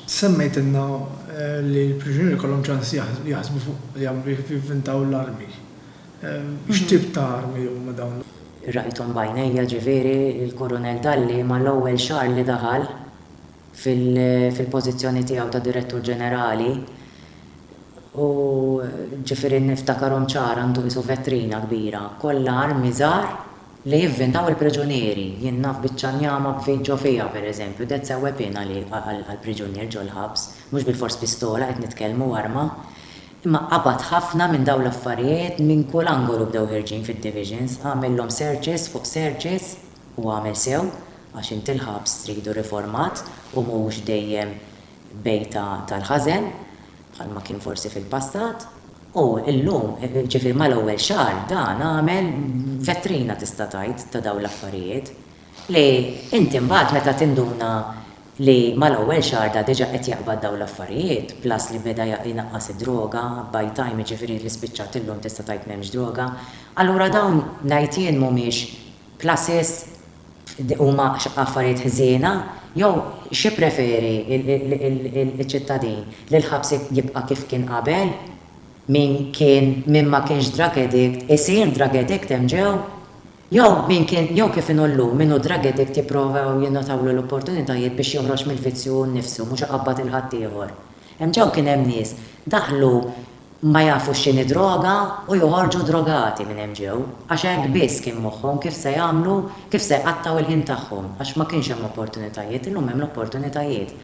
Semmejtilna li l-priġunieri jkollhom ċans jaħsbu fuq li jivvintaw l-armi. X'tip ta' armi huma dawn? Rajthom b'għajnejja, ġifieri, il-Kurunell Dalli mal-ewwel xahar li daħal fil-pożizzjoni tiegħu ta' Direttur Ġenerali u ġifieri niftakarhom ċar għandu qisu vetrina kbira kollha armi żgħar, Li jivvintaw il-priġunieri, jien naf biċċa njama b'fid ġo fija, per eżempju, that's a weapon għall-priġunier ġol-ħabs, mhux bilfors pistola qed nitkellmu, arma. Imma qabad ħafna minn dawn l-affarijiet minn kull angolu bdew ħerġin fid-divisions, għamillhom searches fuq searches u għamel sew għax int il-ħabs tridu riformat u mhux dejjem bejta tal-ħażen, bħalma kien forsi fil-passat, u llum, ġifieri mal-ewwel xahar, dan għamel vetrina tista' tgħid ta' dawn l-affarijiet, li inti mbagħad meta tinduna li mal-ewwel xahar da diġà qed jaqbad dawn l-affarijiet, plus li beda jnaqqas id-droga, by time jiġifieri li spiċċat illum tista' tgħid m'hemmx droga, allura dawn ngħid jien mhumiex pluses. huma affarijiet ħżiena jew x'jippreferi ċ-ċittadin, li l-ħabs jibqa' kif kien qabel? Min kien min ma kienx drug addict isir drug addict hemm ġew? Jew min kien jew kif inhu llum min hu drug addict jipprovaw jingħotawlu l-opportunitajiet biex joħroġ mill-vizzju hu nnifsu mhux iqabbad 'il ħaddieħor? Hemm ġew kien hemm nies daħlu ma jafux x'inhi droga u joħorġu drogati minn hemm ġew, għax hekk biss kien moħħhom kif se jagħmlu, kif se jqattgħu l-ħin tagħhom, għax ma kienx hemm opportunitajiet, illum hemm l-opportunitajiet.